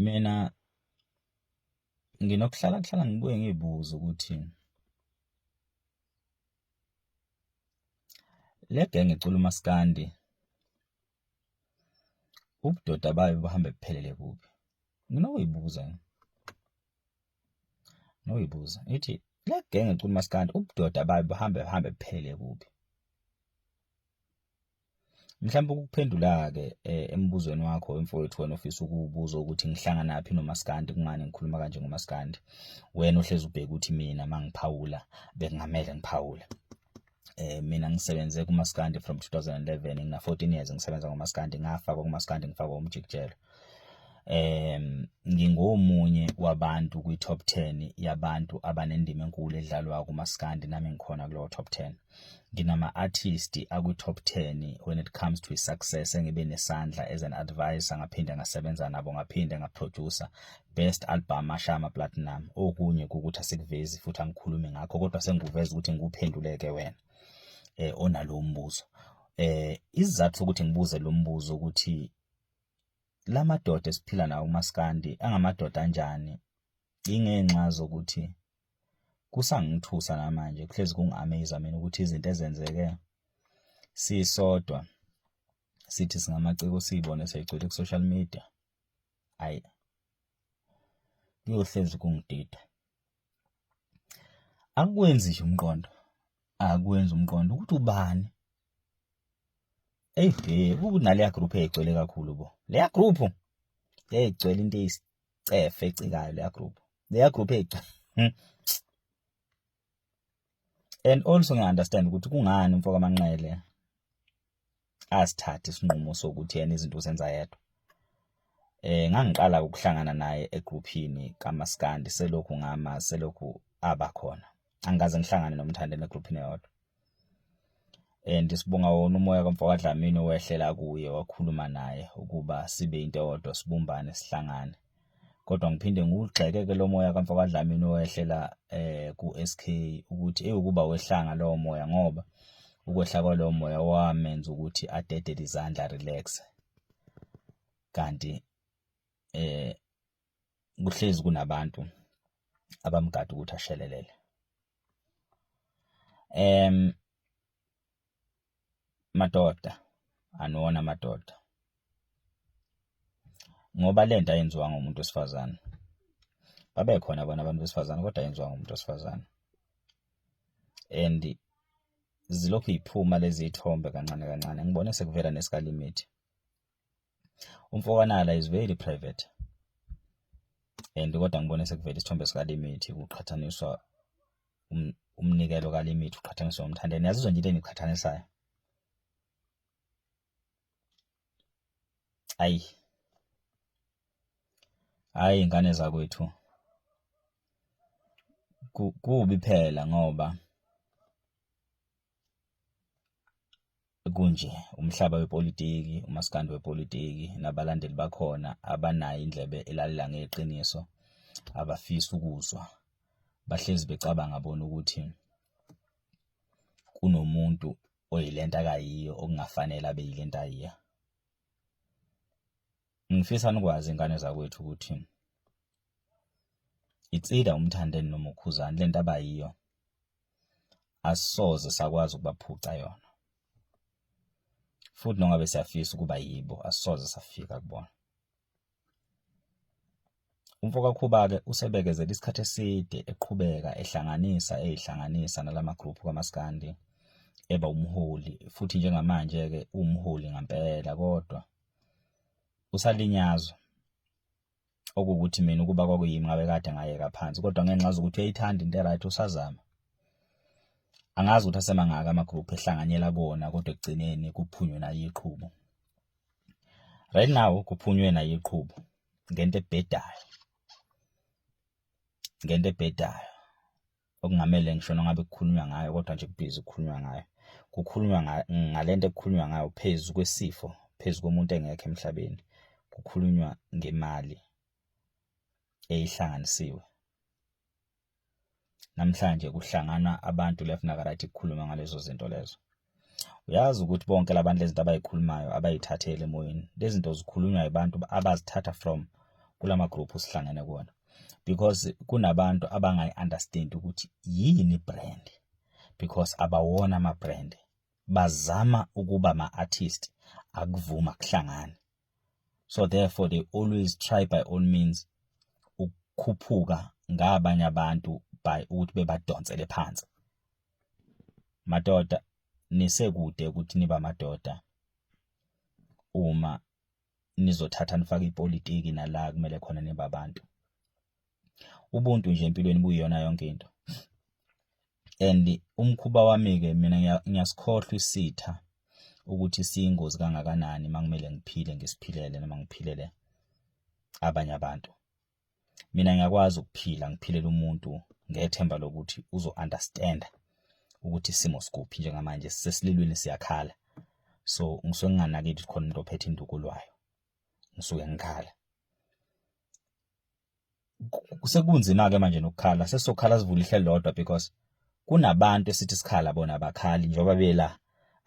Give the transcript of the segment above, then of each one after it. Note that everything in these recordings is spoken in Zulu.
Mina nginokuhlala kuhlala ngibuye ngibuze ukuthi le genge ecula umaskandi ubudoda bayo buhambe buphelele kuphi nginokuyibuza noyibuza ithi le genge ecula umaskandi ubudoda bayo buhambe buhambe buphelele kuphi Mhlawumbe ukuphendula-ke eh, embuzweni wakho wemfowethu wena ofisa ukubuza ukuthi ngihlanganaphi nomaskandi kungani ngikhuluma kanje ngomaskandi wena ohlezi ubheke ukuthi mina mangiphawula bekungamele ngiphawule eh mina ngisebenze kumaskandi from 2011 ngina 14 years ngisebenza ngomaskandi ngafakwa kumaskandi ngifakwa umjikijelo um ngingomunye wabantu kwi-top ten yabantu abanendima enkulu edlalwa kumaskandi nami ngikhona kulowo top ten nginama-artist akwi-top ten when it comes to i-success engibe nesandla as an advisor ngaphinde ngasebenza nabo ngaphinde ngaprodusa best album ashama platinum okunye kukuthi asikuvezi futhi angikhulumi ngakho kodwa sengikuveza ukuthi ngikuphenduleke wena um onalowo mbuzo um isizathu sokuthi ngibuze lo mbuzo ukuthi la madoda esiphila nawo umaskandi angamadoda anjani ingenxa zokuthi kusangithusa namanje kuhlezi kungi-amaze mina ukuthi izinto ezenzeke sisodwa sithi singamaciko siyibone seyigcwele ku-social media ayi kuyohlezi kungidida akwenzi nje umqondo akwenzi umqondo ukuthi ubani Eyi eh, kunaleya group egcwele kakhulu bo. Leya group egcwele into eyisicefe ecikayo leya group. Leya group egcwele. Hmm. And also ngiya understand ukuthi kungani umfoka Manqele asithathe isinqumo sokuthi yena izinto uzenza yedwa. Eh ngangiqala ukuhlangana naye egrouphini kaMaskandi selokhu ngama selokhu abakhona. Angikaze ngihlangane nomthandeni egrouphini yodwa. and sibonga wona umoya kamfokadlamini owehlela kuye wakhuluma naye ukuba sibe into eyodwa sibumbane sihlangane kodwa ngiphinde ngigxeke-ke lo moya kamfokadlamini owehlela eh ku-SK ukuthi ewukuba wehlanga lowo moya ngoba ukwehla kwalowo moya wamenza ukuthi adedele izandla relax kanti eh kuhlezi kunabantu abamgada ukuthi ashelelele em madoda anona madoda ngoba lento ayenziwa ngomuntu wesifazane babe khona bona abantu besifazane kodwa yenziwa ngomuntu wesifazane and zilokhu yiphuma lezi ithombe kancane kancane ngibone sekuvela neskalimate umfokanala is very private and kodwa ngibone sekuvela isithombe sikalimithi kuqhathaniswa um, umnikelo kalimithi uqhathaniswa umthandeni yazizwa nje into engiqhathanisayo ayi hayi ingane zakwethu kubi phela ngoba Kunje, umhlaba wepolitiki, umaskandi wepolitiki nabalandeli bakhona abanayo indlebe elalela ngeqiniso, abafisi ukuzwa. Bahlezi becabanga bona ukuthi kunomuntu oyilento akayiyo okungafanele abe yilento ayiya. Ngifisa nikwazi ingane zakwethu ukuthi itsida umthandeni noma ukhuzani lento abayiyo asoze sakwazi ukubaphuca yona futhi nongabe siyafisa ukuba yibo asoze safika kubona umfokakhuba-ke usebekezela isikhathi eside eqhubeka ehlanganisa eyihlanganisa nalama group kamaskandi eba umholi futhi njengamanje-ke uwumholi ngampela kodwa usalinyazwa okuwukuthi mina ukuba kwakuyimi ngabe kade ngayeka phansi kodwa ngenxa ngazi ukuthi uyayithanda into eright usazama angazi ukuthi asemangaka amagroup ehlanganyela kuwona kodwa ekugcineni kuphunywe nayo iqhubo right now kuphunywe nayo iqhubo ngento ebhedayo ngento ebhedayo okungamele ngisho nangabe kukhulunywa ngayo kodwa nje kubhizi kukhulunywa ngayo kukhulunywa ngale nto ekukhulunywa ngayo phezu kwesifo phezu komuntu engekho emhlabeni kukhulunywa ngemali eyihlanganisiwe namhlanje kuhlangana abantu left nakarathi kukhuluma ngalezo zinto lezo uyazi ukuthi bonke labantu lezinto abayikhulumayo abayithatheli emoyeni lezinto zikhulunywa abantu abazithatha from kulama group sihlangene kuona because kunabantu abangayi understand ukuthi yini brand because abawona ama brand bazama ukuba ma artist akuvuma kuhlangana so therefore they always try by all means ukukhuphuka ngabanye abantu by ukuthi bebadonsele phansi madoda nisekude ukuthi niba madoda uma nizothatha nifake ipolitiki nala kumele khona niba abantu ubuntu nje empilweni buyiyona yonke into and umkhuba wami ke mina ngiyasikhohlwa isitha ukuthi siyingozi kangakanani makumele ngiphile ngisiphilele noma ngiphilele abanye abantu mina ngiyakwazi ukuphila ngiphilela umuntu ngethemba lokuthi uzo understand ukuthi isimo sikuphi njengamanje sisesililweni siyakhala so ngisuke nginganaki ukuthi khona umuntu ophethe induku lwayo ngisuke ngikhala sekunzima ke manje nokukhala sesokhala sivula ihle lodwa because kunabantu esithi sikhala bona abakhali njengoba bela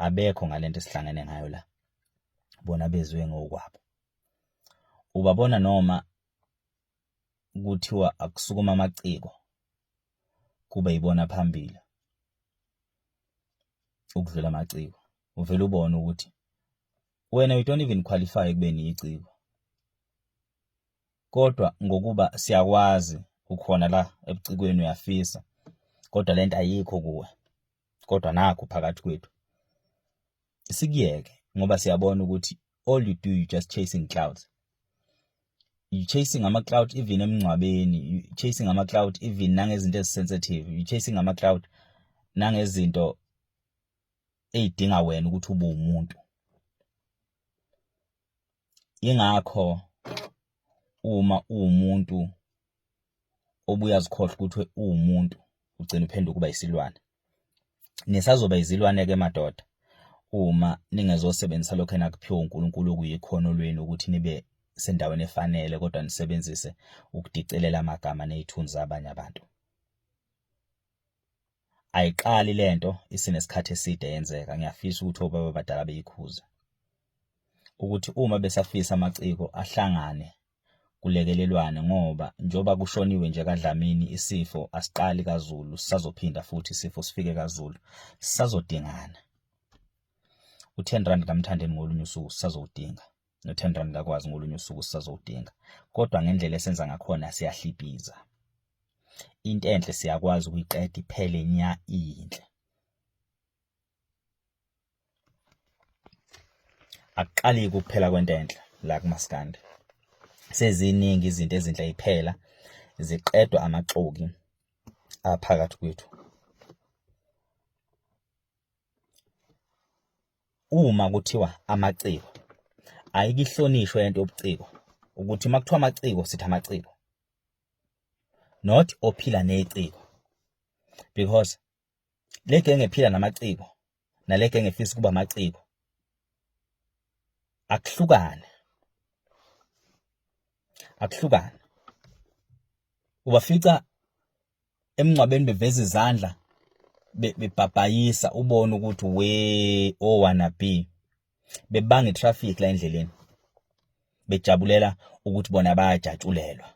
abekho ngalento esihlangene ngayo la bona bezwe ngokwabo Ubabona noma kuthiwa akusukuma amaciko kube yibona phambili ukudlula amaciko. Uvele ubone ukuthi wena you don't even qualify ekubeni yiciko. Kodwa ngokuba siyakwazi ukhona la ebucikweni uyafisa kodwa lento ayikho kuwe kodwa nakhu phakathi kwethu. sikuyeke ngoba siyabona ukuthi all you do you just chasing clouds you chasing ama cloud even emngcwabeni you chasing ama cloud even nangezinto ezisensitive you chasing ama cloud nangezinto eyidinga wena ukuthi ube umuntu Ingakho uma uwumuntu obuya zikhohle ukuthi uwumuntu ugcina uphenduka ukuba isilwane. Nisazoba izilwane ke madoda uma ningezosebenzisa lokho enakuphiwa uNkulunkulu okuyikhono lwenu ukuthi nibe sendaweni efanele kodwa nisebenzise ukudicelela amagama nezithunzi zabanye abantu. ayiqali lento isinesikhathi eside yenzeka ngiyafisa ukuthi obaba abadala beyikhuze ukuthi uma besafisa amaciko ahlangane kulekelelwane ngoba njengoba kushoniwe nje kaDlamini isifo asiqali kaZulu sisazophinda futhi isifo sifike kaZulu sisazodingana u-10 rand kamthandeni ngolunye usuku sisazowudinga Nothandwa ngikakwazi ngolunye usuku sisazowudinga. Kodwa ngendlela esenza ngakhona siyahlipiza. Into enhle siyakwazi ukuyiqeda iphele nya iyinhle. Akuqali kuphela kwento enhle la kumaskandi. Seziningi izinto ezinhle iphela ziqedwa amaxoki aphakathi kwethu. Uma kuthiwa amaciko ayikihlonishwe lento yobuciko ukuthi uma kuthiwa amaciko sithi amaciko not ophila neciko because le genge ephila namaciko nale genge efisa ukuba amaciko akuhlukane akuhlukane ubafica emngcwabeni beveza izandla bebhabhayisa ubone ukuthi we owana oh, b bebanga itraffic la endleleni bejabulela ukuthi bona bayajatshulelwa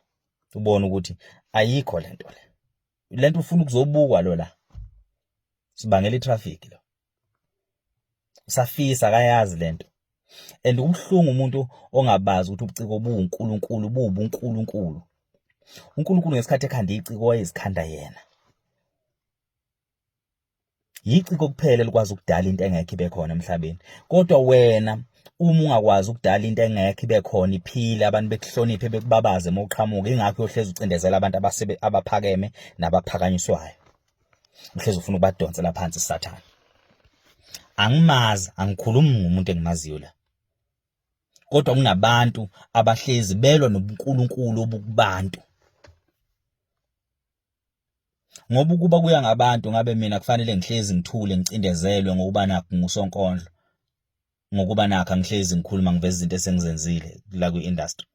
ubone ukuthi ayikho lento le lento ufuna ukuzobukwa lo la sibangela itraffic lo usafisa akayazi lento and umhlungu umuntu ongabazi ukuthi ubuciko buwuNkulunkulu buwubuNkulunkulu uNkulunkulu ngesikhathi ekhanda iciko wayezikhanda yena yiciko kuphela likwazi ukudala into engekho ibe khona emhlabeni kodwa wena uma ungakwazi ukudala into engekho ibe khona iphile abantu bekuhloniphe bekubabaze uma uqhamuka ingakho uyohlezi ucindezela abantu abaphakeme nabaphakanyiswayo uhlezi ufuna ukubadonsela phansi sathane angimazi angikhulumi ngomuntu engimaziyo la kodwa kunabantu abahlezi belwa nobunkulunkulu obukubantu ngoba ukuba kuya ngabantu ngabe mina kufanele ngihlezi ngithule ngicindezelwe ngokuba nakho ngusonkondlo ngokuba nakho angihlezi ngikhuluma ngiveza izinto esengizenzile la kwi-industry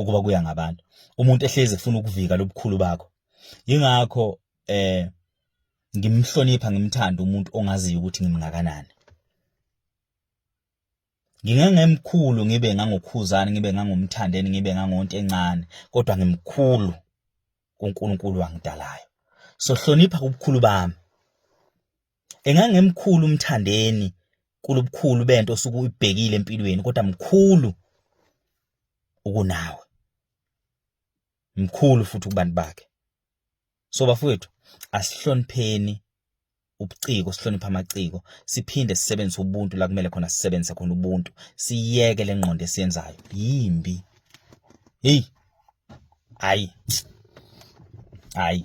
ukuba kuya ngabantu umuntu ehlezi efuna ukuvika lobukhulu bakho yingakho eh ngimhlonipha ngimthanda umuntu ongaziyo ukuthi ngimngakanani ngingangemkhulu ngibe ngangokhuzani ngibe ngangomthandeni ngibe ngangonto encane kodwa ngimkhulu kuNkulunkulu wangidalayo so hlonipha ubukhulu bami Engangemkhulu uMthandeni kulobukhulu bento osuke uyibhekile empilweni kodwa mkhulu ukunawe. Mkhulu futhi kubantu bakhe. So bafowethu asihlonipheni ubuciko sihloniphe amaciko siphinde sisebenzise ubuntu la kumele khona sisebenzise khona ubuntu siyeke lengqondo esiyenzayo yimbi hey hayi hayi